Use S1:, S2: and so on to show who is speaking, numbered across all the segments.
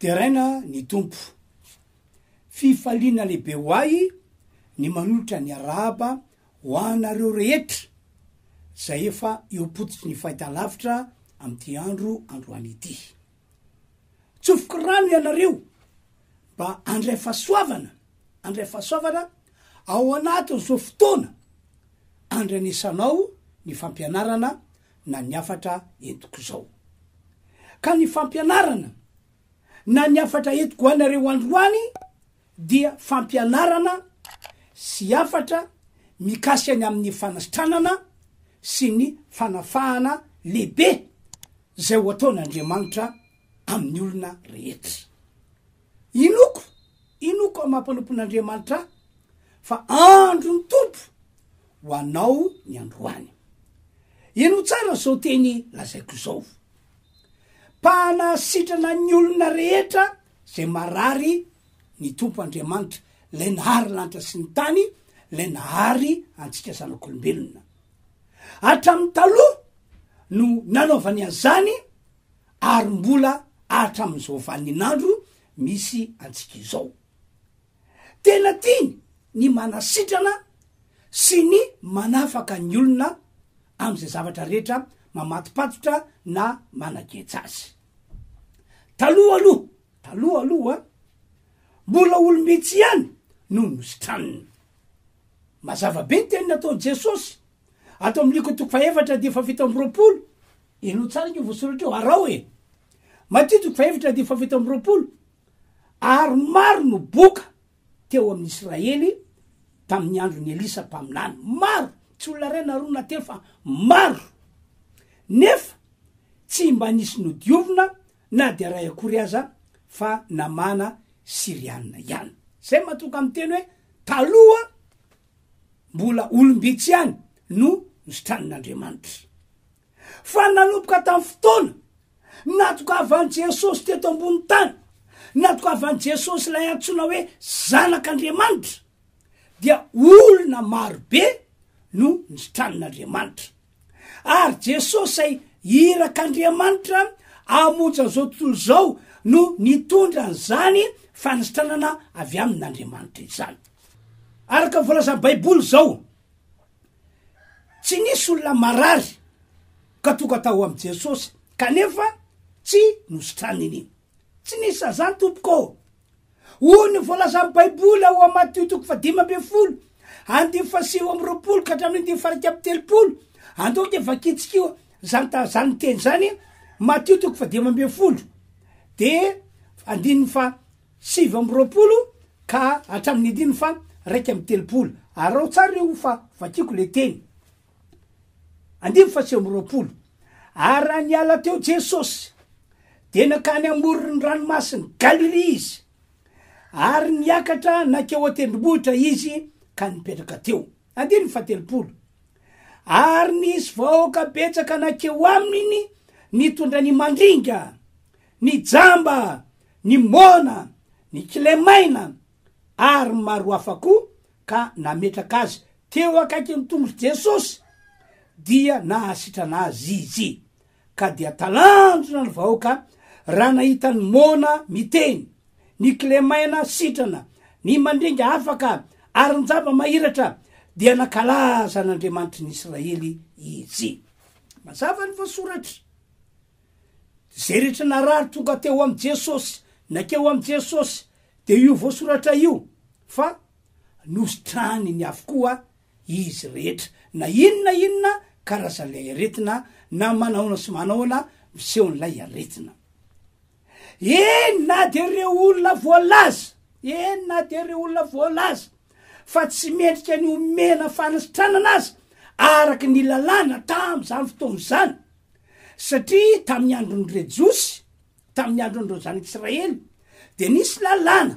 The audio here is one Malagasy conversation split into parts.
S1: Deraina ny Tompo. Fifaliana lehibe ho ahy ny manolotra ny arahaba ho anareo rehetra izay efa eo am-pototry ny fahitalavitra amin'ity andro androany ity. Tsofiky rano ianareo mba handray fahasoavana, handray fahasoavana ao anatin'izao fotoana andranesanao ny fampianarana na ny hafatra entiko izao. Ka ny fampianarana na ny hafatra entiko ho anareo androany dia fampianarana sy hafatra mikasika ny amin'ny fanasitranana sy ny fanafahana lehibe izay ho ataon'Andriamanitra amin'ny olona rehetra. Inoko, inoko aho mampanompon'Andriamanitra ahy fa andron'ny Tompo ho anao ny androany. Inoa tsara izao teny lazaiko izao. Mpahana sitrana ny olona rehetra izay marary ny Tompo Andriamanitra, ilay nahary lanitra sy ny tany, ilay nahary antsika zanak'olombelona. Hatramin'ny taloha no nanaovany an'izany ary mbola hatramin'izao vanin'andro misy antsika izao. Tena tiany ny manasitrana sy ny manafaka ny olona amin'izay zavatra rehetra mamatopatotra na manageja azy. Taloha aloha, taloha aloha, mbola olom-bitsy ihany no nositraniny. Mazava be ny teny nataon'i Jesosy ato amin'ny Liko toko fahefatra dia fahafito amby roapolo Henoy tsara io voasoratra io, araho e! Matio toko fahefatra andininy fahafito amby roapolo, Ary maro no boka teo amin'i Israely tamin'ny andron'i Elisa mpaminany, maro, tsy olona iray na roa na telo fa maro, nefa tsy mba nisy nodiovina na dia iray akory aza fa Namana Syriana ihany. Izay matoka amin'ny teny hoe taloha mbola olom-bitsy ihany no nosotranin'Andriamanitra. Fa nanomboka tamin'ny fotoana natokavan'i Jesosy teto ambonin'ny tany, natokavan'i Jesosy ilay antsoina hoe Zanak'Andriamanitra, dia olona marobe no nitranin'Andriamanitra. Ary Jesosy izay irak'Andriamanitra hamonjy an'izao tontolo izao no nitondra an'izany fanisitranana avy amin'Andriamanitra izany. Araka ny voalazan'ny Baiboly izao, Tsy nisy olona marary ka tonga tao amin'i Jesosy kanefa tsy nositraniny iny. Tsy nisy sady izany tompoko ô! Hoy ny voalazan'ny Baiboly ao amin'ny Matio toko fahadimy ambin'ny folo andinin'ny fahasivy amby roapolo ka hatramin'ny andinin'ny fahairaika amby telopolo. Andao dia vakintsika io izany ta- izany teny izany, Matio toko fahadimy ambin'ny folo dia andininy fa Sivy amby roapolo ka hatramin'ny andininy fa raika amby telopolo. Araho tsara io fa vakiko le teny. Andininy faha sivy amby roapolo, Ary raha niala teo Jesosy, dia nankany amoron'ny ranomasin'i Galilia izy, ary niakatra nankeo an-tendrombohitra izy ka nipetraka teo. Andininy faha telopolo, Ary nisy vahoaka betsaka nankeo aminy nitondra ny mandringa. ny jamba, ny moana, ny kilemaina ary ny maro hafa koa ka nametraka azy teo akaikin'ny tongon'i Jesosy dia nahasitrana azy izy ka dia talanjona ny vahoaka raha nahita ny moana miteny, ny kilemaina sitrana, ny mandringa afaka ary ny jamba mahiratra dia nankalaza an'Andriamanitry ny Israely izy. Mazava ny voasoratra. Izay rehetra narary tonga teo amin'i Jesosy, nankeo amin'i Jesosy, dia io voasoratra io fa nositrahiny avokoa izy rehetra, na inona inona karazan'ilay aretina, na manahoana sy manahoana misehon'ilay aretina. Eny na dia ireo olona voalaza, eny na dia ireo olona voalaza fa tsy mendrika ny homena fanasitranana aza, araka ny lalàna tamin'izany fotoana izany, Satria tamin'ny andron'ny re Jiosy, tamin'ny andron'ireo zanak'Israely, dia nisy lalàna,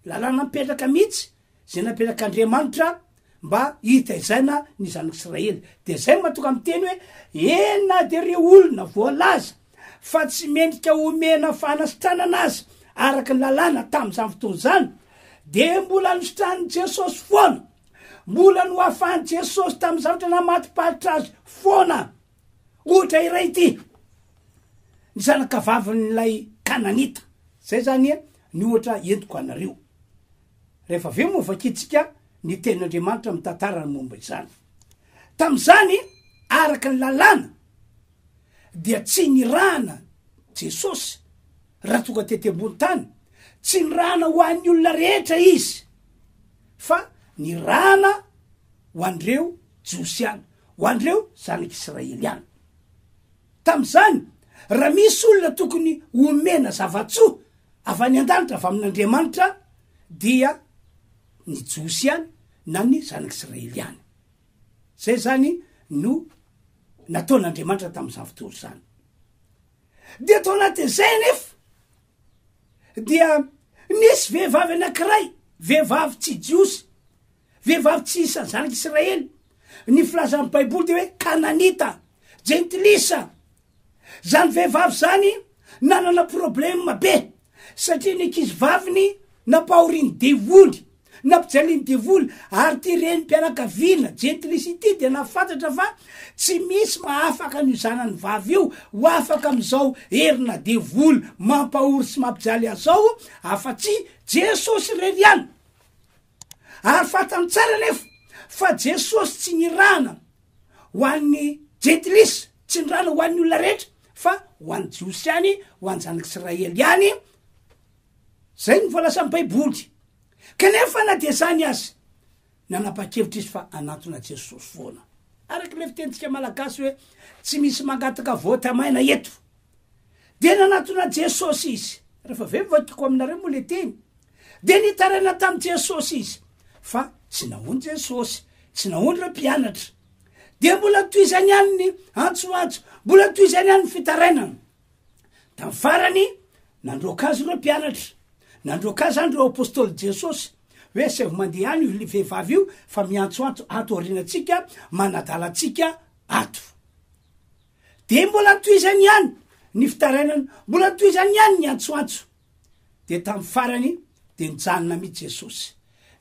S1: lalàna mipetraka mihitsy, izay napetrak'Andriamanitra mba hitaizaina ny zanak'Israely. Dia izay no mahatonga miteny hoe, eny na dia ireo olona voalaza fa tsy mendrika homena fanasitranana aza araka ny lalàna tamin'izany fotoana izany, dia mbola nositranin'i Jesosy foana, mbola nohafahan'i Jesosy tamin'ny zavatra namatiparitra azy foana. Ohatra iray ity, ny zanakavavin'ilay Kananita. Zay zany e, ny ohatra entiko anareo. Rehefa avy eo moa vakintsika ny tenin'Andriamanitra mitantara ny momba izany. Tamin'izany, araka ny lalàna, dia tsy nirahana Jesosy raha tonga tety ambony tany, tsy nirahana ho an'ny olona rehetra izy fa nirahana ho an'ireo Jiosy ihany. ho an'ireo zanak'Israely ihany. Tamin'izany, raha misy olona tokony homena zava-tsoa avy any an-danitra avy amin'Andriamanitra, dia ny Jiosy ihany na ny zanak'Israely ihany. Izay izany no nataon'Andriamanitra tamin'izany fotoana izany. Dia tao anatin'izay anefa, dia nisy vehivavy anankiray, vehivavy tsy Jiosy, Vehivavy tsy isan'ny zanak'i Israely. Ny filazan'ny Baiboly dia hoe Kananita, Jentilisa. Izany vehivavy izany nanana problema be, satria ny ankizivaviny nampahorian'ny devoly, nampijalian'ny devoly, ary ity renim-pianakaviana jentilisa ity dia nahafantatra fa tsy misy mahafaka an'io zanany vavy io ho afaka amin'izao herina devoly mampahory sy mampijaly azy izao afa-tsy Jesosy irery ihany. Ary fantany tsara anefa fa Jesosy tsy nirahana ho an'ny Jentilisa, tsy nirahana ho an'ny olona rehetra fa ho an'ny Jiosy ihany, ho an'ny zanak'Israely ihany, zay no voalazan'ny baiboly. Kanefa na dia zany aza, nanapa-kevitra izy fa hanantona Jesosy foana. Araka ilay fitenintsika malagasy hoe, tsy misy mangataka vote maina eto. Dia nanatona Jesosy izy. Rehefa avy eo nivakiko aminareo moa le teny. Dia nitaraina tamin'i Jesosy izy. Fa tsy nahoany Jesosy. Tsy nahoany ireo mpianatra. Dia mbola tohizany ihany ny antsoantso. Mbola tohizany ihany ny fitarainana. Tamin'ny farany, nandroaka azy ireo mpianatra. Nandroaka azy andry ireo apostoly Jesosy. Hoe asaivo mandeha any io vehivavy io fa miantsoantso ato aorianantsika, manadala antsika ato. Dia mbola toizany ihany ny fitarainana, mbola toizany ihany ny antsoantso. Dia tamin'ny farany dia nijanona mihitsy Jesosy.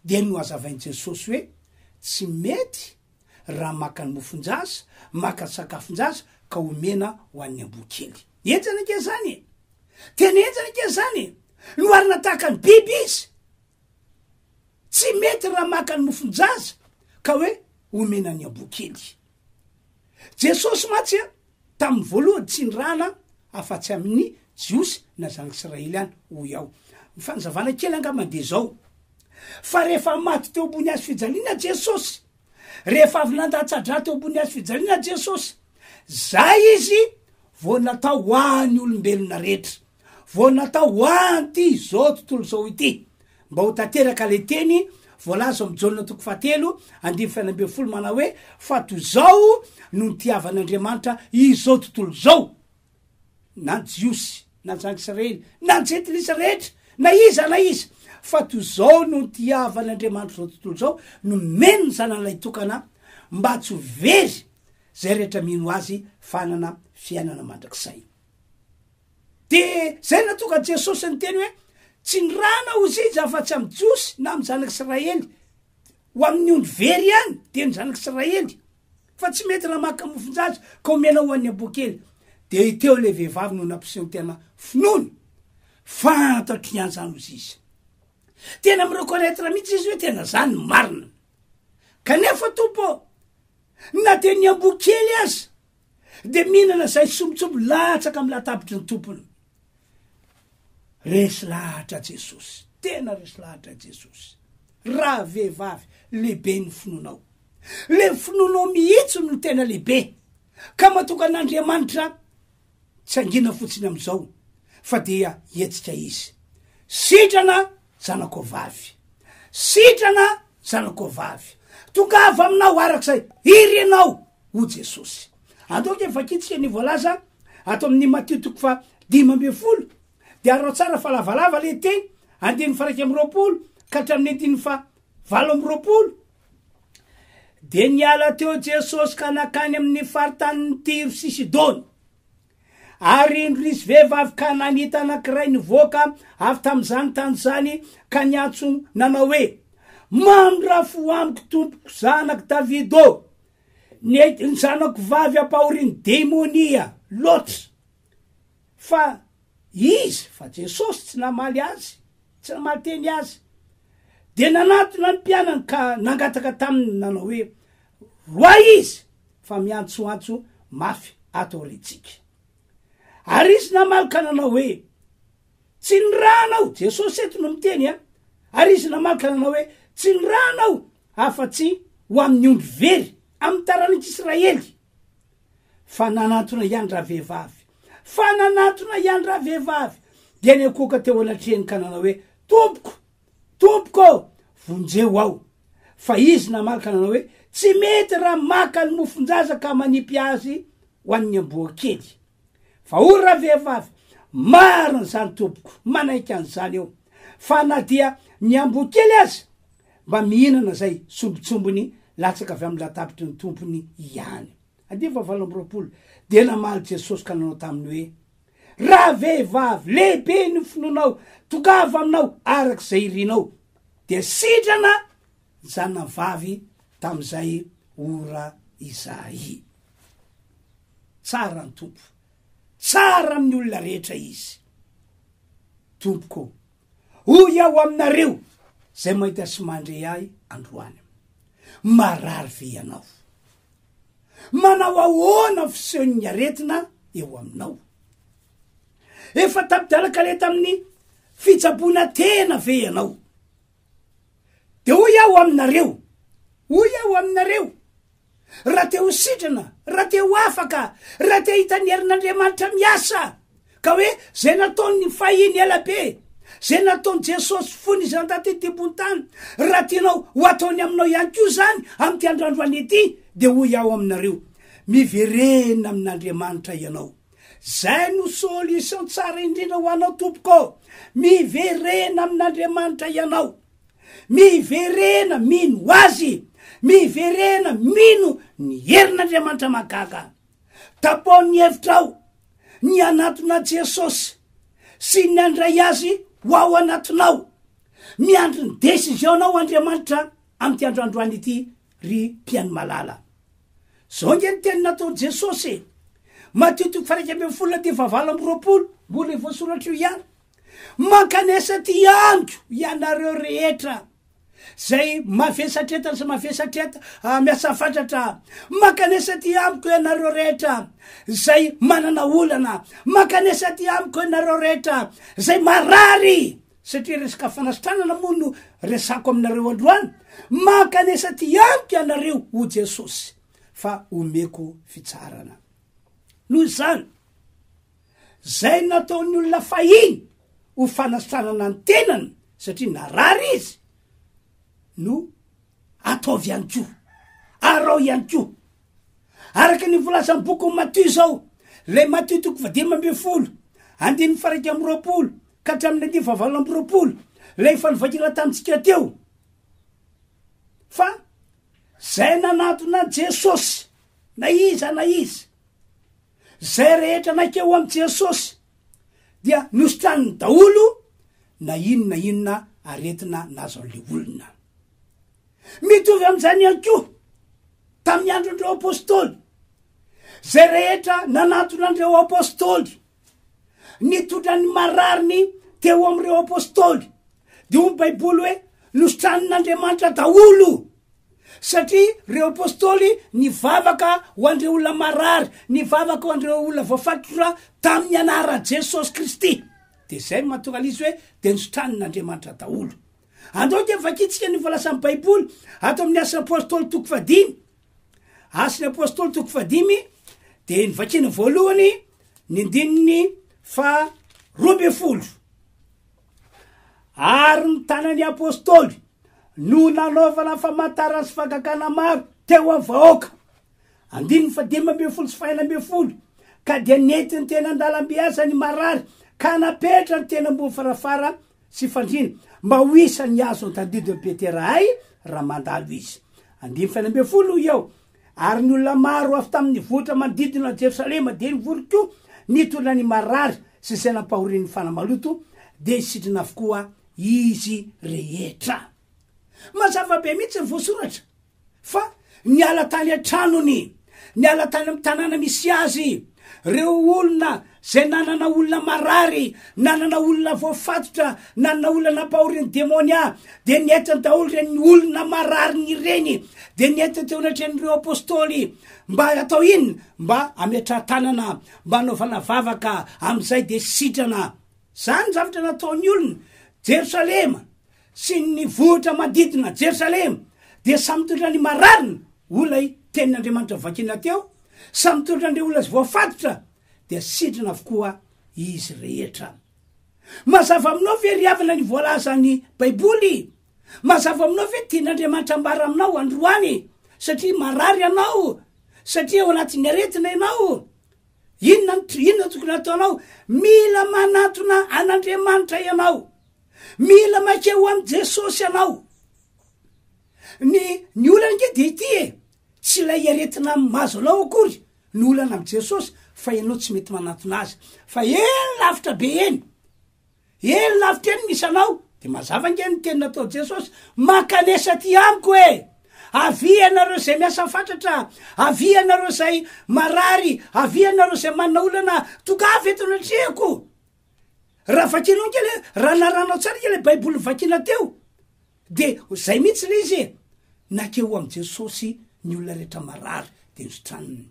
S1: Dia nohazavain'i Jesosy hoe, Tsy mety raha maka ny mofon-jaza, maka sakafon-jaza ka omena ho an'ny amboa kely. Henjana ange izany e! Tena henjana ange izany e! Noharina tahaka ny biby izy. Tsy mety raha maka ny mofon-jaza ka hoe omena ny amboa kely. Jesosy mantsy a, tamin'ny voalohany tsy nirahana afa-tsy amin'ny Jiosy na Zangisraely ihany, hoy aho. Ny fanazavana kely angambany dia izao, fa rehefa maty teo ambony hazo fijaliana Jesosy, rehefa avy nandatsa-drà teo ambony hazo fijaliana Jesosy, izay Izy vao natao ho an'ny olombelona rehetra. Vao natao ho an'ity izao tontolo izao ity, mba ho tanteraka ilay teny voalaza ao amin'ny Jaona toko fahatelo andininy fahenina ambin'ny folo manao hoe, Fa toy izao no nitiavan'Andriamanitra izao tontolo izao, na ny Jiosy, na ny zanak'i Israely, na ny Jentilisa rehetra, na iza na iza, fa toy izao no nitiavan'Andriamanitra izao tontolo izao, nomeny ny Zanany Lahitokana, mba tsy ho very izay rehetra mino Azy, fa hanana fiainana mandrakizay. Dia izay no nahatonga an'i Jesosy niteny hoe, Tsy ny rà na ozija afa-tsy amin'ny Jiosy na amin'ny zanak'Israely. Ho amin'ny ondry very ihany dia ny zanak'Israely. Fa tsy mety raha maka mofon-jaza ka omena ho an'ny amboakely. Dia teo ilay vehivavy no nampiseho ny tena finoany. Fantatro ihany izany ho ziza. Tena mi-reconnaitre mihitsy izy hoe tena izany ny marina. Kanefa, Tompo ô, na dia ny amboakely aza Dia mihinana izay sombitsombiny latsaka amin'ny latabitry ny tompony. Resy lahatra Jesosy. Tena resy lahatra Jesosy. Ravehivavy, lehibe ny finoanao. Le finoanao mihitsy no tena lehibe. Ka matoka an'Andriamanitra tsy angina fotsiny amin'izao fa dia hetsika izy. Sitrana Zanako vavy. Sitrana, zanako vavy. Tongava aminao arak'izay. Iry ianao, hoy Jesosy. Andao anie vakintsika ny voalaza ato amin'ny Matio toko fa dimy ambin'ny folo. Dia arao tsara fa lavalava ilay teny, andininy fa iraika amby roapolo ka hatramin'ny andininy fa valo amby roapolo. Dia niala teo Jesosy ka nakany amin'ny faritanin'i Tiro sy Sidona. Ary indro nisy vehivavy kananita anankiray nivoaka avy tamin'izany tany izany, ka niantso nanao hoe, Mamy raha fo amiko, tompoko, zanak'i Davida ô! Ny ny zanako vavy ampahorin'ny demonia loatra. Fa izy, fa Jesosy, tsy namaly azy, tsy namaly teny azy. Dia nanatona ny mpianany ka nangataka taminy nanao hoe, Roa izy fa miantsoantso mafy ato aoriantsika. Ary izy namaly ka nanao hoe, Tsy ny ra anao, Jesosy eto no miteny a, ary izy namaly ka nanao hoe, Tsy ny ra anao afa-tsy ho amin'ny ondry very amin'ny taranak'Israely. Fa nanantona ihany ravehivavy, fa nanantona ihany ravehivavy, dia niakoaka teo anatrehany ka nanao hoe, Tompoko, Tompoko ô! Vonjeo aho! Fa izy namaly ka nanao hoe, Tsy mety raha maka ny mofon-jaza ka manipy azy ho an'ny amboa kely. Fa hoy ravehivavy, Marina izany tompoko, manaiky an'izany aho. Fa na dia ny amboa kely aza mba mihinana izay sombintsombiny latsaka avy amin'ny latabtry ny tompony ihany. Andivo fahavalo amby roapolo, Dia namaly Jesosy ka nanao taminy hoe, Raha vehivavy, lehibe ny finoanao, tongava aminao araka izay irinao. Dia sitrana ny zanany vavy tamin'izay ora izay. Tsara ny Tompo. Tsara amin'ny olona rehetra Izy. Tompoko ô. Hoy aho aminareo izay mahita sy mandre ahy androany, Marary ve ianao? Manao ahoana ny fisehon'ny aretina eo aminao? Efa tapi-dalan-kaleta amin'ny fitsaboana tena ve ianao? Dia hoy aho aminareo, hoy aho aminareo, raha te ho sitrana, raha te ho afaka, raha te hahita ny herin'Andriamanitra miasa, ka hoe izay nataon'ny fahiny ela be, izay nataon'i Jesosy fony izany taty an-tebon'ny tany, raha tianao ho hataony aminao ihany koa izany amin'ity andrandroany ity, dia hoy aho aminareo, miverena amin'Andriamanitra ianao. Izay no solution tsara indrindra ho anao tompoko ô! Miverena amin'Andriamanitra ianao. Miverena mino Azy! Miverena mino ny herin'Andriamanitra mahagaga! Tapao ny hevitrao ny hanatona Jesosy sy ny handray Azy ho ao anatinao! Miandry ny décision-nao Andriamanitra amin'ity andro androany ity ry mpihaino malala! Zao nge ny teny nataon'i Jesosy e! Matio toko fairaika ambin'ny folo na dia fahavalo amby roapolo, mbola io voasoratra io ihany, Mankanesa aty amiko ianareo rehetra zay mavesatra eto sy mavesatra eto ah, miasa fatratra ah. Mankanesa aty amiko ianareo rehetra zay manana olana, mankanesa aty amiko ianareo rehetra zay marary satria resaka fanasitranana moa no resako aminareo androany, mankanesa aty amiko ianareo o Jesosy fa omeko fitsaharana. Noho izany. Izay nataon'ny olona fahiny ho fanasitranana ny tenany satria narary izy no ataovy ihany koa. Arao ihany koa. Araka ny volazan'ny bokin'i Matio izao, ilay Matio toko fahadimy ambin'ny folo, andininy faraika amby roapolo ka hatramin'ny andininy fahavalo amby roapolo, ilay efa novakiana tamintsika teo. Fa izay nanatona an'i Jesosy, na iza na iza, Izay rehetra naikeo amin'i Jesosy dia nositraniny daholo na inona na inona aretina nazon'ilay olona. Mitovy amin'izany ihany koa tamin'ny andron'ireo apostoly. Izay rehetra nanatona an'ireo apostoly, nitondra ny marariny teo amin'ireo apostoly, dia hoy ny Baiboly hoe, Nositraniny Andriamanitra daholo. Satria reo Apostoly nivavaka ho andreo olona marary, nivavaka ho andreo olona voafatotra tamin'ny anaran'i Jesosy Kristy. Dia zay no mahatonga an'izy hoe dia nosotranin'Andriamanitra daholo. Andao dia vakintsika ny voalazan'ny Baiboly ato amin'ny Asan'ny Apostoly toko fahadimy. Asan'ny Apostoly toko fahadimy dia ny vakina voalohany ny ndininy fa roa ambin'ny folo. Ary ny tanan'ny apostoly no nanaovana famantarana sy fangagana maro teo amin'ny vahoaka. Andininy fahadimy ambin'ny folo sy fahenina ambin'ny folo, ka dia nentiny teny an-dalambe aza ny marary, ka napetrany teny ambony farafara sy fandriana, mba ho isan'ny azo antandidin'i Petera hay raha mandalo izy. Andininy fahenina ambin'ny folo, hoy aho, Ary ny olona maro avy tamin' ny vohitra manodidina Jerosalema dia nivory koa, nitondra ny marary sy izay nampahorin' ny fanahy maloto, dia sitrina avokoa izy rehetra. Mazava be mihitsy ny voasoratra fa niala tany an-tranony, niala tany amin' ny tanàna misy azy, ireo olona Izay nanana olona marary, nanana olona voafatotra, nanana olona nampahorin'ny demonia, dia nihaitra daholo ireny olona marariny ireny, dia nihaitra teo anatrehan'ireo apostoly, mba atao inona? Mba ametrahan-tanana, mba anaovana vavaka, amin'izay dia sitrana. Izany ny zavatra nataon'ny olona. Jerosalema sy ny nivohitra manodidina Jerosalema dia samy tolotra ny mararina, olona i tenin'Andriamanitra vakina teo, samy tolotra an'ireo olona voafatotra, dia sidrina avokoa izy rehetra. Mazava aminao ve ry havana ny voalazan'ny Baiboly? Mazava aminao ve ny tian'Andriamanitra ambara aminao androany? Satria marary ianao, satria ao anatin'ny aretina ianao, inona no to- inona no tokony hataonao? Mila manatona an'Andriamanitra ianao, mila maika ho amin'i Jesosy ianao. Ny ny olana ange dia ity e, tsy ilay aretina mahazo anao akory, Ny olana am Jesosy fa enao tsy mety manantona azy fa eny lavitra be eny eny lavitra eny misy anao de mazava nge ny teny natao Jesosy mankanesa aty amiko e avia ianareo zay miasa fatratra avia ianareo zay marary avia ianareo zay manana olana tongava eto anatrehako raha vakinao nge le raha narahanao tsara nge le baiboly vakina teo Dia izay mihitsy ilay izy e! Nankeo amin'i Jesosy ny olona rehetra marary, dia nositranniny.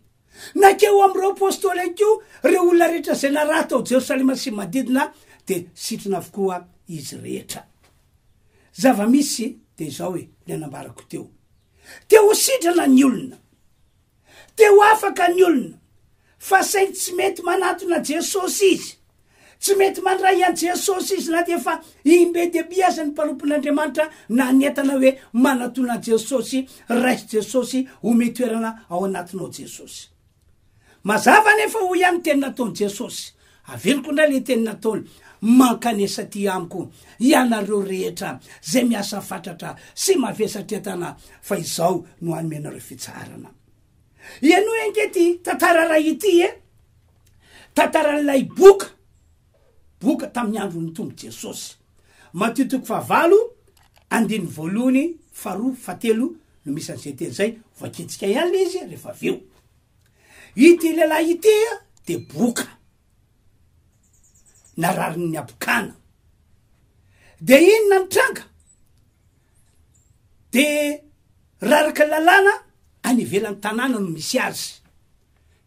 S1: Nankeo amin'ireo apostoly ihany koa ireo olona rehetra izay naraha tao Jerosalema sy ny manodidina, dia sitrana avokoa izy rehetra. Zava-misy dia izao e, ny anambarako teo. Te ho sitrana ny olona. Te ho afaka ny olona, fa saingy tsy mety manatona Jesosy izy. Tsy mety mandray an'i Jesosy izy na dia efa im-be dia be aza ny mpanompon'Andriamanitra nanentana hoe, Manatona an'i Jesosy, raiso Jesosy, omeo toerana ao anatinao Jesosy. Mazava anefa hoy ihany ny teny nataon'i Jesosy, Averiko indray ilay teny nataony, Mankanesa aty amiko, ianareo rehetra izay miasa fatratra sy mavesatra entana, fa izao no hanome anareo fitsaharana. Henoy ange ity tantara iray ity e! Tantaran'ilay boka, boka tamin'ny andron'ny Tompo Jesosy. Matio toko fahavalo, andininy voalohany, faharoa, fahatelo no misy an'izay teny izay. Hovakintsika ihany ilay izy rehefa avy eo. Ity lehilahy ity dia boka nararin'ny abokana. Dia inona ny tranga? Dia raraka lalàna any ivelan'ny tanàna no misy azy.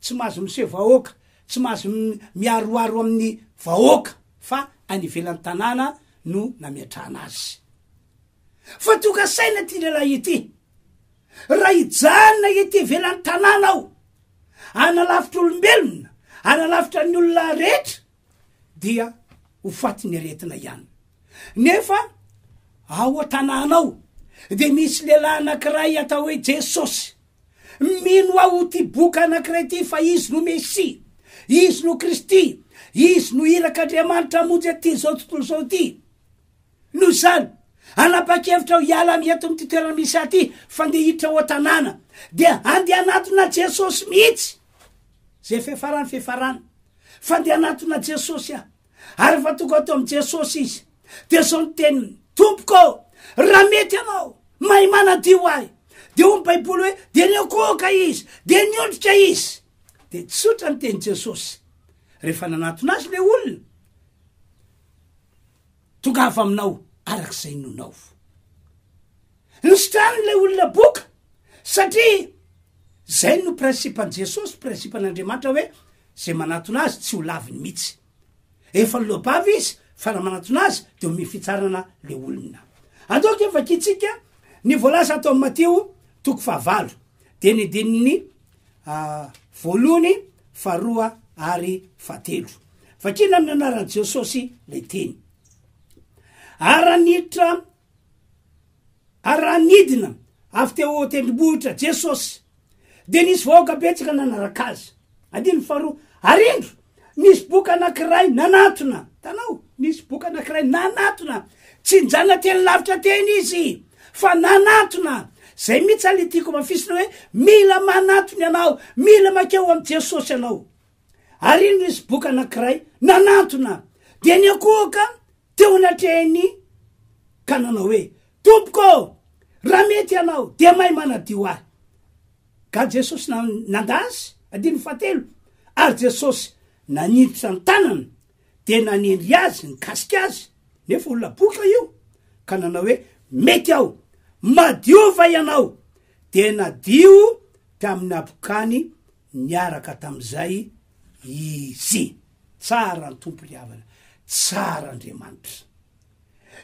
S1: Tsy mahazo miseho vahoaka, tsy mahazo miaroaro amin'ny vahoaka fa any ivelan'ny tanàna no nametrahana azy. fa tonga saina ity lehilahy ity, raha hijanona ety ivelan'ny tanàna aho, hanalavitra olombelona, hanalavitra ny olona rehetra, dia ho fatin'ny aretina ihany. Nefa ao an-tanàna ao dia misy lehilahy anankiray atao hoe Jesosy. Mino aho ho ty boka anankiray ity fa izy no Mesia, izy no Kristy, izy no irak'Andriamanitra hamonjy aty izao tontolo izao ity. Noho izany, hanapa-kevitra aho hiala amin'ny eto amin'ity toerana misy ahy ity fa ndeha hiditra ao an-tanàna. Dia handeha hanatona Jesosy mihitsy, izay efa hiafarany fa hiafarany, fa ndeha hanatona Jesosy aho. Ary efa tonga ato amin'i Jesosy izy. Dia izao ny teniny, Tompoko ô, raha mety ianao, mahay manadio ahy. Dia hoy ny Baiboly hoe, dia niokoka izy, dia niondrika izy. Dia tsotra ny tenin'i Jesosy. Rehefa nanatona azy ilay olona, Tongava aminao araka izay nonao. Nositrany ilay olona boka satria izay no principe-n'i Jesosy, principe-n'Andriamanitra hoe izay manatona azy tsy ho laviny mihitsy. Efa loabavy izy fa raha manatona azy dia omeny fitsarana ilay olona. Andao ange vakintsika ny voalaza ato amin'ny Matio toko fahavalo, dinin'ny dinin'ny voalohany, faharoa ary fahatelo. Vakina amin'ny anaran'i Jesosy ilay teny. Aranitra aranidina avy teo tendrombohitra Jesosy. Dia nisy vahoaka betsaka nanaraka azy. Adiny faharoa, arindro Nisy boka anankiray nanatona, hitanao? Nisy boka anankiray nanatona. Tsy nijanona teny lavitra teny izy, fa nanatona. Izay mihitsy zany le tiako amafisina hoe mila manatona ianao, mila makeo amin'i Jesosy ianao. Ary iny nisy boka anankiray nanatona. Dia niankohoka teo anatrehiny ka nanao hoe, Tompoko ô, raha mety ianao, dia mahay manadio ahy. Ka Jesosy nanda azy, andininy fahatelo, ary Jesosy nanintotra ny tanany dia nanendry azy nikasika azy, nefa olona boka io, ka nanao hoe, Mety aho, madio va ianao? Dia nadio tamin'ny habokany niaraka tamin'izay izy. Tsara ny Tompo ry havana, tsara Andriamanitra.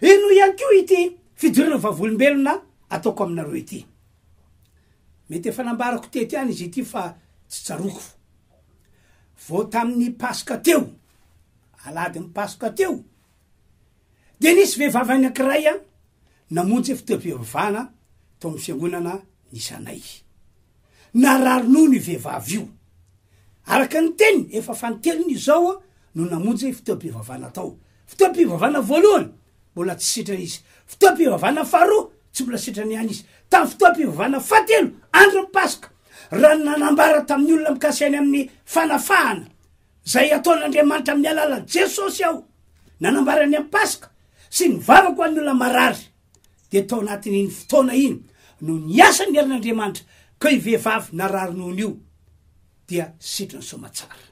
S1: Henoy ihany koa ity fidorana vavolombelona ataoko aminareo ity. Mety efa nambarako teto ihany izy ity fa tsy tsaroako. Vao tamin'ny Paska teo, Alahadin'ny Paska teo, dia nisy vehivavy anankiray an, namonjy fotoam-pivavahana tao amin'ny fiangonana nisy anay. Narary nono io vehivavy io. Araka ny teniny, efa fanintelony izao no namonjy fotoam-pivavahana tao. Fotoam-pivavahana voalohany mbola tsy sitrana izy. Fotoam-pivavahana faharoa, tsy mbola sitrana ihany izy. Tamin'ny fotoam-pivavahana fahatelo, andron'ny Paska, raha ny nanambara tamin'ny olona mikasika ny amin'ny fanafahana izay ataon'Andriamanitra amin'ny alalan'i Jesosy aho, nanambara ny amin'ny Paska sy ny vavako ho an'ny olona marary, dia tao anatin'iny fotoana iny no niasa ny herin'Andriamanitra, koa io vehivavy narary nono io dia sitriny soa aman-tsara.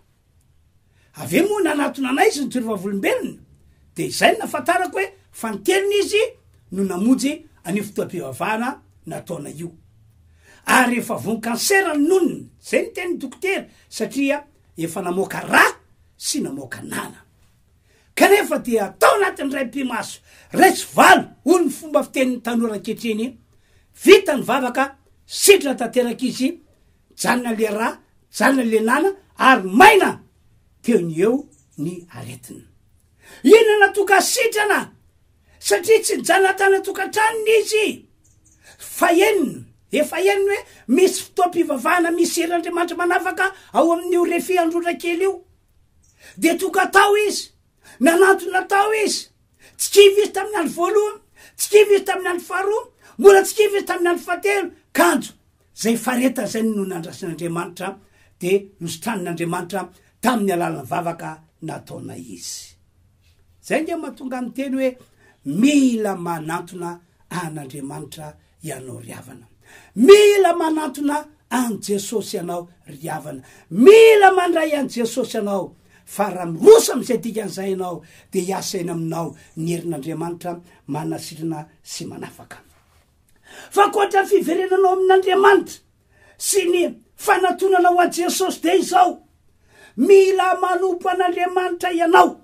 S1: Avy eo moa nanatona anay izy nitory vavolombelona, dia izay no nahafantarako hoe fa ny teniny izy no namonjy an'io fotoam-pivavahana nataonay io. Ary efa voan'ny kansera ny nonony, izay no tenin'ny dokotera, satria efa namoaka rà sy namoaka nana. Kanefa dia tao anatin'ny raim-pimaso, raiso valo, hoy ny fomba fitenin'ny tanora ankehitriny, vita ny vavaka, sitrana tanteraka izy, Mijanona le rà, mijanona le nana ary maina teo ny eo ny aretina. I nana toa kasitrana satria tsy nijanona tany an-tokantranony izy. Fahenina, efa henony hoe misy fotoam-pivavahana misy heran'Andriamanitra manavaka ao amin'io refy androra kely io. Dia toka tao izy, nanantona tao izy, tsy kivy izy tamin'ny andro voalohany, tsy kivy izy tamin'ny andro faharoa, mbola tsy kivy izy tamin'ny andro fahatelo, kanjo Izay faharetana izay no nandrasan'Andriamanitra dia nositranin'Andriamanitra tamin'ny alalan'ny vavaka nataonay izy. Izay ange mahatonga ahy miteny hoe mila manantona an'Andriamanitra ianao ry havana. Mila manantona an'i Jesosy ianao ry havana. Mila mandray an'i Jesosy ianao fa raha miroso amin'izay dikan'izay ianao dia hiasaina aminao ny herin'Andriamanitra manasitrana sy manafaka. F'ankoatra ny fiverenanao amin'Andriamanitra sy ny fanatonana ho an'i Jesosy dia izao, mila manompo an'Andriamanitra ianao.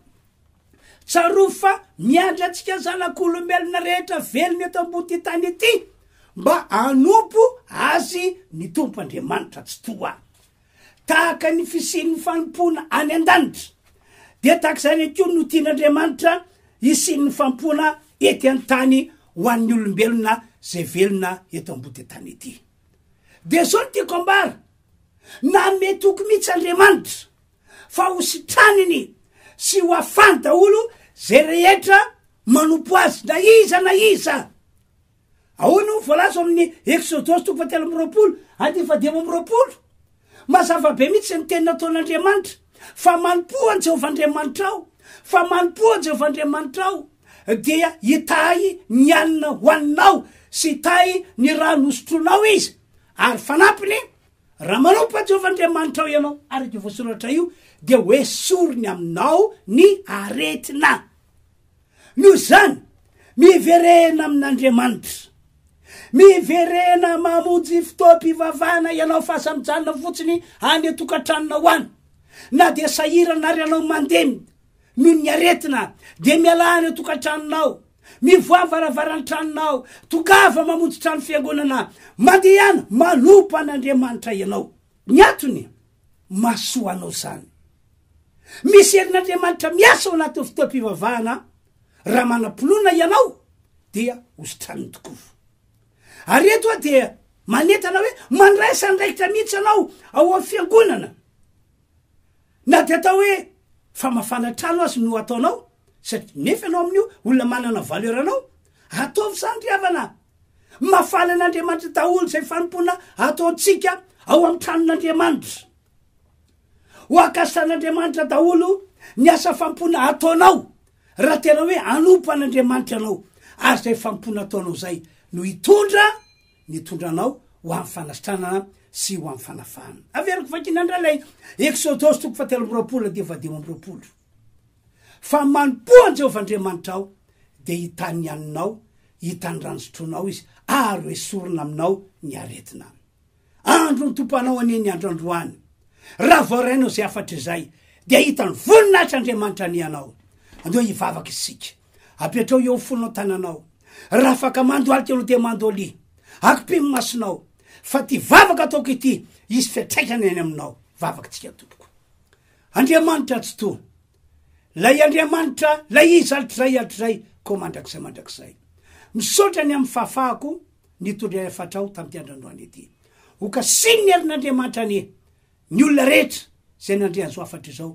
S1: Tsarovy fa miandry antsika zanak'olombelona rehetra velona eto ambon'ity tany ity mba hanompo Azy ny Tompo Andriamanitra Tsitoha. Tahaka ny fisian'ny fanompoana any an-danitra, dia tahaka izany ihany koa no tian'Andriamanitra hisian'ny fanompoana ety an-tany ho an'ny olombelona izay velona eto ambody tany ety. Dia izao no tiako ambara, nanome toky mihitsy Andriamanitra fa hositraniny sy ho afany daholo izay rehetra manompo Azy na iza na iza. Ahoana no voalaza ao amin'ny Eksodosy toko fahatelo amby roapolo andininy fahadimy amby roapolo? Mazava be mihitsy ny teny nataon'Andriamanitra, Fa manompoa an'i Jehovah Andriamanitrao, fa manompoa an'i Jehovah Andriamanitrao, dia hitahy ny hanina hohaninao sy hitahy ny rano hosotroinao izy. Ary fanampiny, Raha manompo an'i Jehovah Andriamanitrao ianao, araka io voasoratra io, dia hoesoriny aminao ny aretina. Noho izany, miverena amin'Andriamanitra. Miverena mamonjy fotoam-pivavahana ianao fa aza mijanona fotsiny any an-tokantranonao any. Na dia sahirana ary ianao mandemy noho ny aretina, dia mialà any an-tokantranonao, mivoaha varavaran-tranonao, tongava mamonjy trano fiangonana, mandehana manompa an'Andriamanitra ianao. Ny antony, mahasoa anao izany. Misy herin'Andriamanitra miasa ao anatin'ny fotoam-pivavahana raha manam-pinoana ianao dia hositraniny tokoa. Ary eto aho dia manentana hoe mandraisa andraikitra mihitsy anao ao amin'ny fiangonana. Na dia atao hoe famafana trano azy no ataonao, satria nefa ianao amin'io olona manana valeur anao, ataovy izany ry havana, Mafana an'Andriamanitra daholo izay fanompoana ataontsika ao amin'ny tranon'Andriamanitra. Ho akasan'Andriamanitra daholo ny asa fanompoana ataonao raha tena hoe anompo an'Andriamanitra ianao ary izay fanompoana ataonao izay no hitondra ny hitondra anao ho amin'ny fanasitranana sy ho amin'ny fanafahana. Averiko vakina indray ilay Exodosy toko fahatelo amby roapolo dia vadiho amby roapolo. Fa manompoa an'i Jehovah Andriamanitrao, dia hitan'ny haninao, hitan'ny rano sotroinao izy, ary hoesorina aminao ny aretina. Andro nitopanao anie ny andro androany. Raha voarainao izay hafatra izay, dia hita ny voninahitr' Andriamanitra anianao. Andeo hivavaka isika. Apetrao eo fonao tananao. Raha afaka mandohalika ianao dia mandolia. Akopimo masonao. Fa ity vavaka ataoko ity, hisy fiantraikany any aminao. Vavaka tsika tompoko. Andriamanitra tsy toa. Lay Andriamanitra lay izy hatrizay hatrizay koa mandrakizay mandrakizay. Misaotra ny amin'ny fahafahako nitondra efatra aho tamin'ity androandroany ity. Ho kasihin'ny herin'Andriamanitra anie ny olona rehetra izay nandre an'izao hafatra izao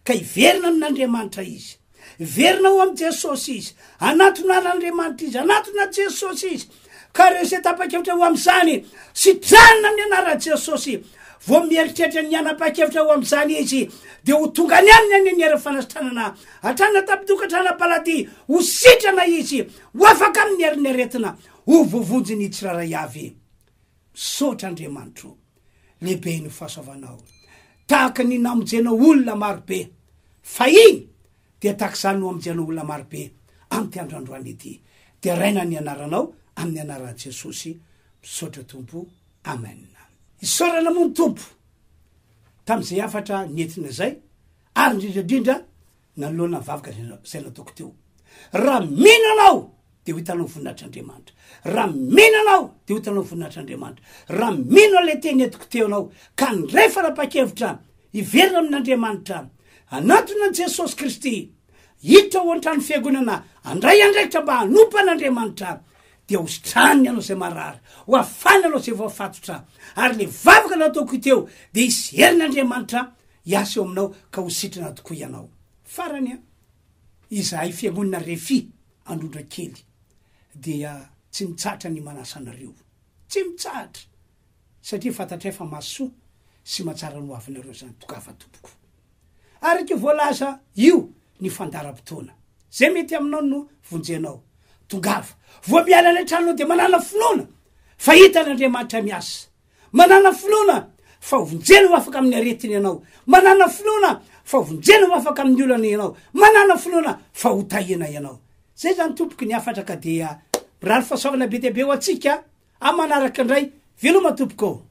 S1: ka hiverina amin'Andriamanitra izy. Hiverina ho amin'i Jesosy izy. Hanatona an'Andriamanitra izy. Hanatona an'i Jesosy izy. Ka ireo izay tapa-kevitra ho amin'izany, sitrana amin'ny anaran'i Jesosy. Vao mieritreritra ny hanapa-kevitra ho amin'izany izy, dia ho tonga any aminy any ny hery fanasitranana. Hatrany an-tampon-tokantrano am-paladia, ho sitrana izy, ho afaka amin'ny herin'ny aretina, ho voavonjy ny tsirairay avy. Misaotra Andriamanitro. Lehibe ny fahasoavanao. Tahaka ny namonjena olona marobe fahiny, dia tahaka izany no hamonjenao olona marobe amin'ity andro androany ity. Deraina ny anaranao amin'ny anaran'i Jesosy. Misaotra Tompo. Amen. Isaorana moa ny Tompo tamin'izay hafatra nentina izay ary indrindra indrindra Nanoloana ny vavaka izay nataoko teo. Raha mino ianao dia ho hitanao ny voninahitr'Andriamanitra. Raha mino ianao dia ho hitanao ny voninahitr'Andriamanitra. Raha mino ilay teny entiko teo ianao ka niray fanapahan-kevitra hiverina amin'Andriamanitra, hanatona an'i Jesosy Kristy, hiditra ao an-tranon'ny Fiangonana, handray andraikitra mba hanompo an'Andriamanitra, dia hositrany ianao izay marary, hoafany ianao izay voafatotra, ary ilay vavaka nataoko teo dia hisy herin'Andriamanitra Hiasa eo aminao ka ho sitrana tokoa ianao. Farany an! Izahay fiangonana Refi Androndrakely dia tsy mitsahatra ny manasa anareo. Tsy mitsahatra! Satria fantatray fa mahasoa sy mahatsara ny ho avinareo izany tokava tompoko. Araka io voalaza io ny fandaharam-potoana. Izay mety aminao no vonjenao. Tongava! Vao miala any an-tranonao dia manana finoana fa hitan'Andriamanitra miasa. Manana finoana fa ho vonjena ho afaka amin'ny aretiny ianao. Manana finoana fa ho vonjena ho afaka amin'ny olana ianao. Manana finoana fa ho tahina ianao. Zay zany tompoko ny hafatra ka dia mirary fahasoavana be dia be ho antsika amin'ny manaraka indray. Veloma tompoko ô!